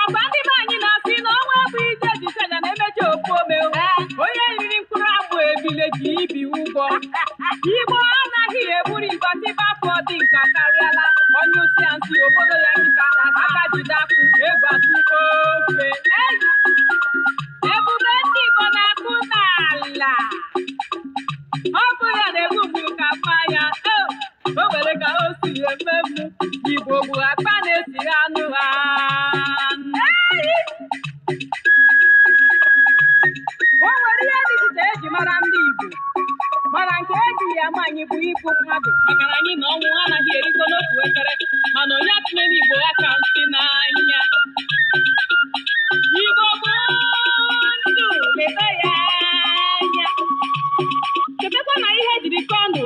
ọkwa ndị be anyị na-asị na ọnwa bụ ije jije ga na-emechi ofu ome o. onye riri mkpụrụ amụ ebile ji ibi ụgwọ igbo anaghị egburu igba ndị be afọ dị nka karịala onye usi ya nsị obodo ya nkịta aka jide akụ egwu atụ ofe ebube ndị igbo na-akụ n'ala ọ bụrụ ya na-egbu mgbu ka mma ya o nwere ka o si eme m igbo bụ akpa na-esi anụ ha o nwere ihe dị iche eji mara ndị igbo mana nke eji ama anyị bụ ịbụ mmadụ maka na anyị na ọnwụ anaghị erikọ n'otu efere mana onye atụnyela igbo aka nsị n'anya igbo bụ ndụ leta ya anya chetakwa na ihe jiri kọndụ